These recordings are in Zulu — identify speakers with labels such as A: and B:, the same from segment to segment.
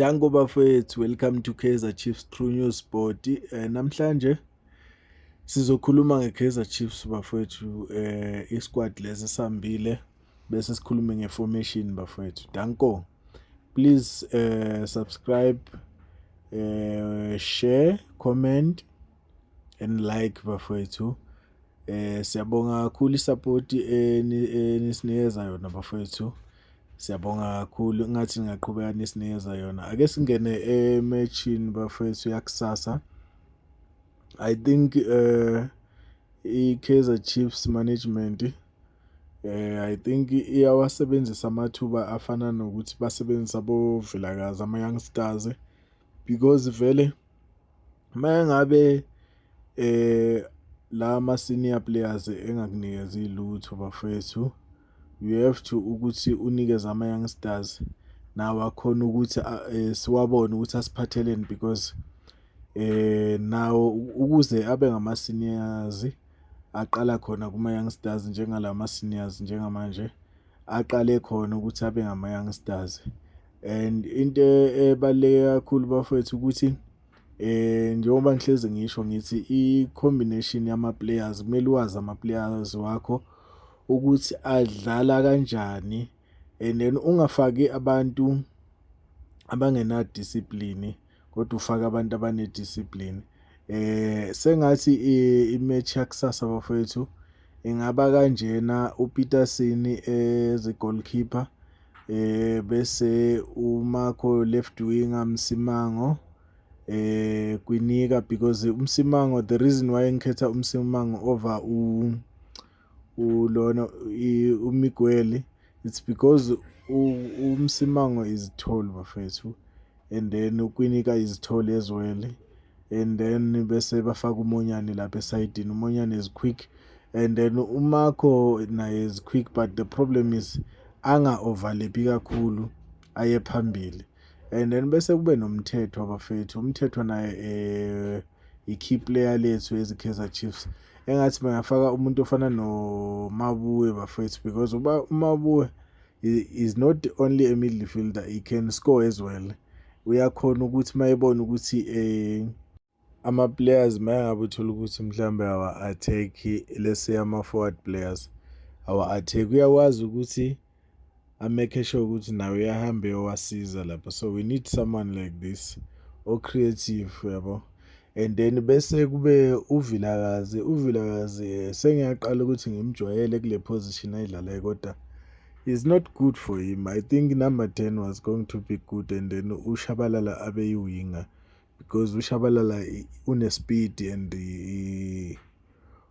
A: Danko bafethu, welcome to Kaizer Chiefs True News Sport. Eh, namhlanje sizokhuluma ngeKaizer Chiefs bafethu, eh isquad lesi sambile bese sikhulume ngeformation bafethu. Danko. Please eh subscribe, eh share, comment and like bafethu. Eh siyabonga kakhulu isapoti enisinikeza yona bafowethu. Siyabonga kakhulu ngathi ngingaqhubeka nisinikeza yona. Ake singene ematchini bafowethu yakusasa. I think eh iKaizer Chiefs management eh I think iyawasebenzisa amathuba afana nokuthi basebenzisa boVilakazi ama youngsters because vele Mengabe eh la ma senior players engakunikezi lutho bafethu you have to ukuthi unikeze ama youngsters nawo akhona ukuthi eh, siwabone ukuthi asiphatheleni because eh nawo ukuze abe ngama seniors aqala khona kuma youngsters njengalama seniors njengamanje aqale khona ukuthi abe ngama-youngsters and into ebaluleke kakhulu bafowethu ukuthi eh njengoba ngihlezi ngisho ngithi i-combination yama-players kumele uwazi ama-players wakho ukuthi adlala kanjani and then ungafaki abantu abangenadiscipline kodwa ufake abantu abanediscipline eh sengathi imatch yakusasa bafowethu ingaba kanjena uPeterson as a goalkeeper eh bese uMarco left winger Msimango eh kwinika because uMsimango the reason why ngikhetha uMsimango over u ulona umigweli it's because umsimango is tall bafethu and then ukwinika is tall as well and then bese bafaka umonyane lapha esayidini umonyane is quick and then umakho naye is quick but the problem is anga overlapi kakhulu aye phambili and then bese kube nomthetho abafethu umthetho naye eh i-key player lethu ezikaizer chiefs engathi bangafaka umuntu ofana nomabuwe bafethu because uba umabuwe is not only a midfielder he can score as well uyakhona ukuthi mayebona ukuthi eh ama-players uma engabe uthola ukuthi mhlawumbe awa-attack-i let's say ama-forward players awa-attack uyakwazi ukuthi amekhe sure ukuthi nawe uyahambe yowasiza lapho so we need someone like this o-creative yabo and then bese kube uvilakazi uvilakazi eh, sengiyaqala ukuthi ngimjwayele kule position ayidlalayo kodwa is not good for him i think number 10 was going to be good and then ushabalala abeyiwinga because uShabalala unespeed and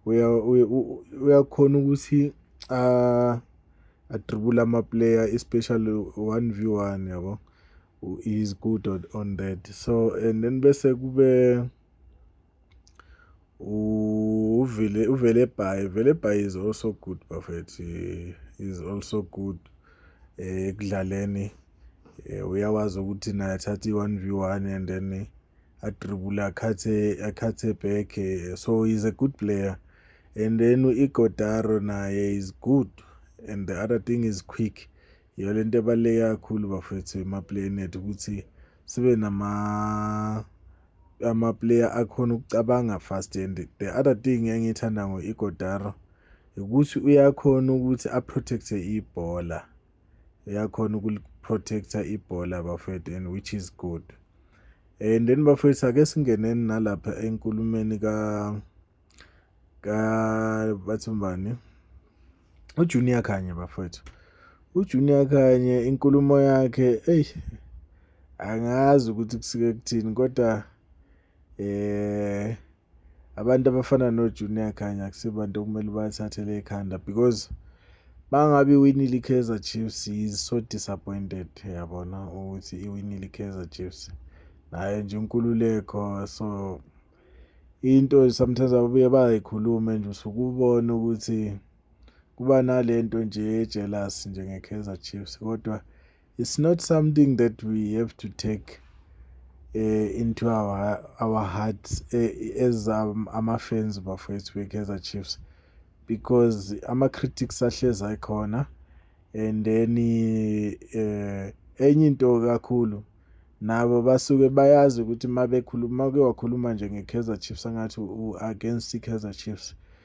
A: uyakhona ukuthi a adribule amaplayer especially 1v1 yabo he is good on, on that so and then bese kube uvele uvele by vele by is also good bafethu is also good ekudlaleni eh, eh, uyawazi ukuthi naye athatha i-one v one and then eh, adribule akhathe akhathe back eh, so he's a good player and then uigodaro naye is good and the other thing is quick yiyo le nto ebaluleke kakhulu bafethu emaplayeni ethu ukuthi sibe nama amaplayer akhona ukucabanga fast and the other thing engiyithanda ngo-igodaro ukuthi uyakhona ukuthi aprotecthe ibhola uyakhona ukuliprotecta ibhola bafethu and which is good and then bafethu ake singeneni nalapha enkulumeni ka ka bathi mbani ujunior khanye bafethu ujunior khanye inkulumo yakhe eyi angazi ukuthi kusike kuthini kodwa eh abantu abafana noJunior Khanya kusebantu okumele bathathele ekhanda because bangabe iwinile iKaizer Chiefs is so disappointed yabona ukuthi iwinile iKaizer Chiefs nayo nje inkululeko so into sometimes ababuye bayikhulume nje usukubona ukuthi kuba nalento nje jealous nje ngeKaizer Chiefs kodwa it's not something that we have to take uh, into our our hearts uh, as um, ama-fans bafowethu be-kaizer chiefs because ama-critics ahlezi ayikhona and then uh, enye into kakhulu nabo basuke bayazi ukuthi uma bekhuluma uma ke wakhuluma nje nge-kaizer chiefs angathi u-against i-kaizer chiefs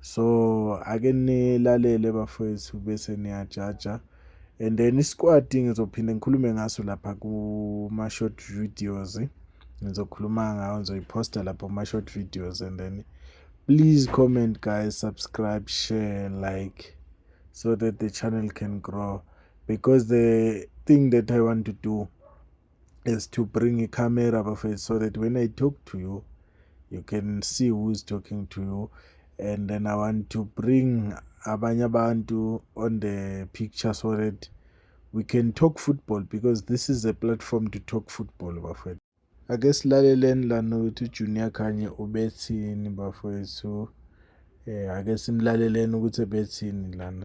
A: So ake nilalele bafowethu bese niyajaja and then isikwadi ngizophinde ngikhulume ngaso lapha kuma short videos ngizokhuluma ngayo ngizoyiposta lapha kuma short videos and then please comment guys subscribe share like so that the channel can grow because the thing that I want to do is to bring a camera bafethu so that when i talk to you you can see who is talking to you and then i want to bring abanye abantu on the picture so that we can talk football because this is a platform to talk football bafethu ake silaleleni lana ukuthi ujunior khanye ubethini bafethu um ake simlaleleni ukuthi ebethini lana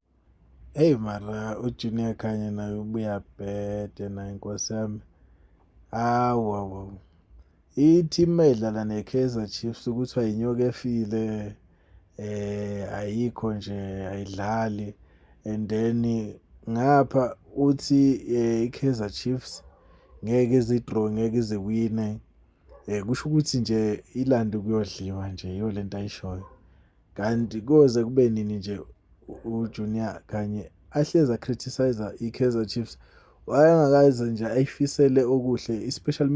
B: Eyi
A: mara uJunior Khanye naye ubuya bhede naye nkosi yami. Hawu hawu hawu. I-team mayidlala ne-Kaizer Chiefs kuthiwa yinyoka efile eh ayikho nje ayidlali and then ngapha uthi eh, i-Kaizer Chiefs ngeke izidraw ngeke iziwine eh kusho ukuthi nje ilande kuyodliwa nje yolento ayishoyo. Kanti koze kube nini nje uJunior kanye ahleza criticizer iKaizer Chiefs wayengakaze nje ayifisele okuhle especially